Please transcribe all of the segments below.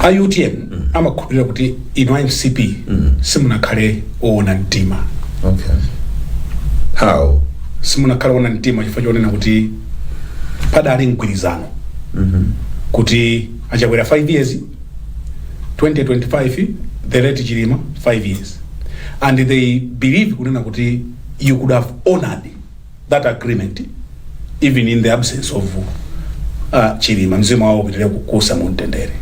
a utm amakhulupirira kuti inu a mcp simunakhale oona mtima okay how simunakhale oona mtima chifukwa chonena kuti padali mgwirizano kuti achakwera 5 years 2025 the late chilima 5 years and they believe kunena kuti you could have honored that agreement even in the absence of uh, chilima mzimu wawo upitire kuusa mu mtendere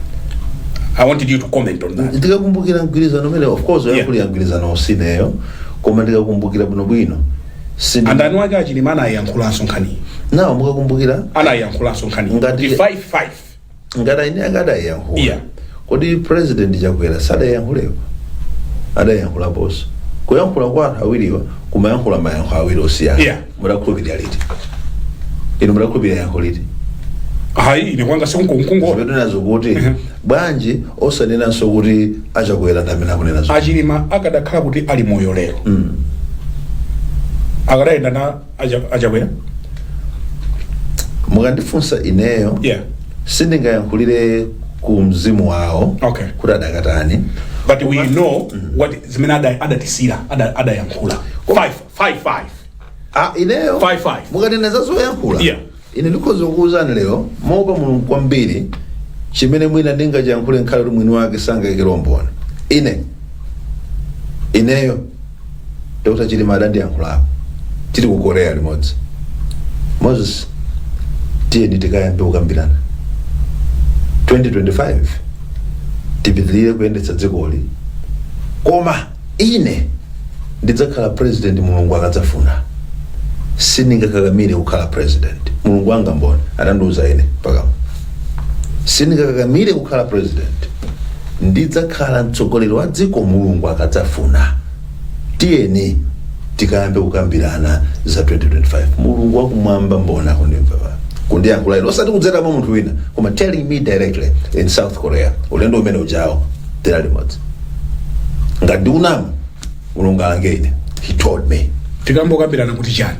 i wanted you to comment on that ndikakumbukira mgwirizano umene of course Yeah. mkulu wa mgwirizano si ineyo koma ndikakumbukira bwinobwino Sindi- and aniwake achilima anayankhulanso nkhaniyi nawo mukakumbukira anayankhulanso nkhaniyi Ngati- kuti 55 ngati ayi ine akadayankhula Yeah. kodi president chakwera sadayankhulepo adayankhulaponso kuyankhula kwa anthu awiriwa kumayankhula mayankho awiri osiyana Yeah. mudakhulupirira liti inu mudakhulupirira yankho liti hayi ine kwanga sekunkonko mukunenazo kuti bwanji osanenanso kuti achakwera ndi amene akunena zoona achilima akadakhala kuti ali moyo lero akadayenda na Acha- achakwera mukandifunsa ineyo yeah sindingayankhulire ku mzimu wawo Okay. kuti adakatani but we know what zimene ada- adatisira ada- adayankhula Five, five, five. ah, ineyo Five, five. mukanena za zoyankhula Yeah. Ine ndikhoza kukuuzani lero, moopa Mulungu kwambiri, chimene mwina ndingachiyankhule ngakhale kuti mwini wake sangaikire umboni. Ine, ineyo, Dr. Chilima adandiyankhulapo, tili ku Korea limodzi. Moses, tiyeni tikayambe kukambirana. 2025 tipitirire kuyendetsa dzikoli, koma ine ndidzakhala president mulungu akadzafuna sindingakakamire kukhala president mulungu wanga mboni adandiuza ine pakamwa sindingakakamire kukhala president ndidzakhala mtsogoleri wa dziko mulungu akadzafuna tiyeni tikayambe kukambirana za 2025 mulungu wakumwamba mboni akundimva pa kundiyankhula ine osati kudzera mwa munthu wina koma telling me directly in south korea ulendo umene ujawo tidali limodzi ngati ndikunama mulungu alange ine he told me tikayambe kukambirana kuti chani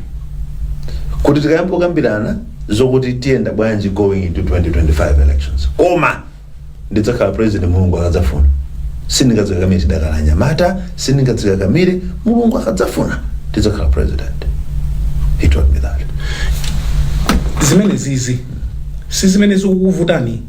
kuti tikayambe kukambirana zokuti tiyenda bwanji going into 2025 elections koma ndidzakhala president mulungu akadzafuna sindingadzikakamire ndidakali mnyamata sindingadzikakamire mulungu akadzafuna ndidzakhala president he told me that zimenezizi si zimene zikukuvutani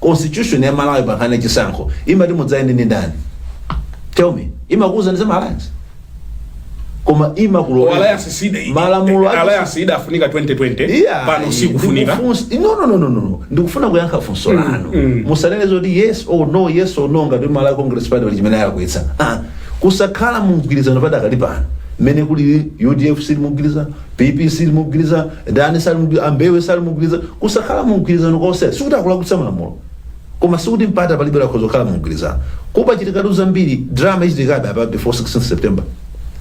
Constitution ya Malawi pa nkhani ya chisankho imati mudzayende ndi ndani? Tell me. Imakuuza ndi za Alliance. Koma imakulola. Alliance sida. Malamulo a- Alliance idafunika 2020. Yeah, Pano sikufunika. ndikufunsa- no, no, no, no, no, no. ndikufuna kuyankha funso lanu musanene zoti yes or no yes or no ngati malawi congress party pali chimene chalakwitsa ah, kusakhala mumgwirizano padakali pano mmene kuli udf sili mumgwirizano PP sili mu mgwiriza, ndani sali mu mgwiriza, a Mbewe sali mu mgwiriza. Kusakhala mu mgwirizano konse sikuti akulakwitsa malamulo, koma sikuti mpata palibe akhoza kukhala mu mgwirizano. Kuti pachitikatu zambiri, drama ichitikabe apa before 16 September.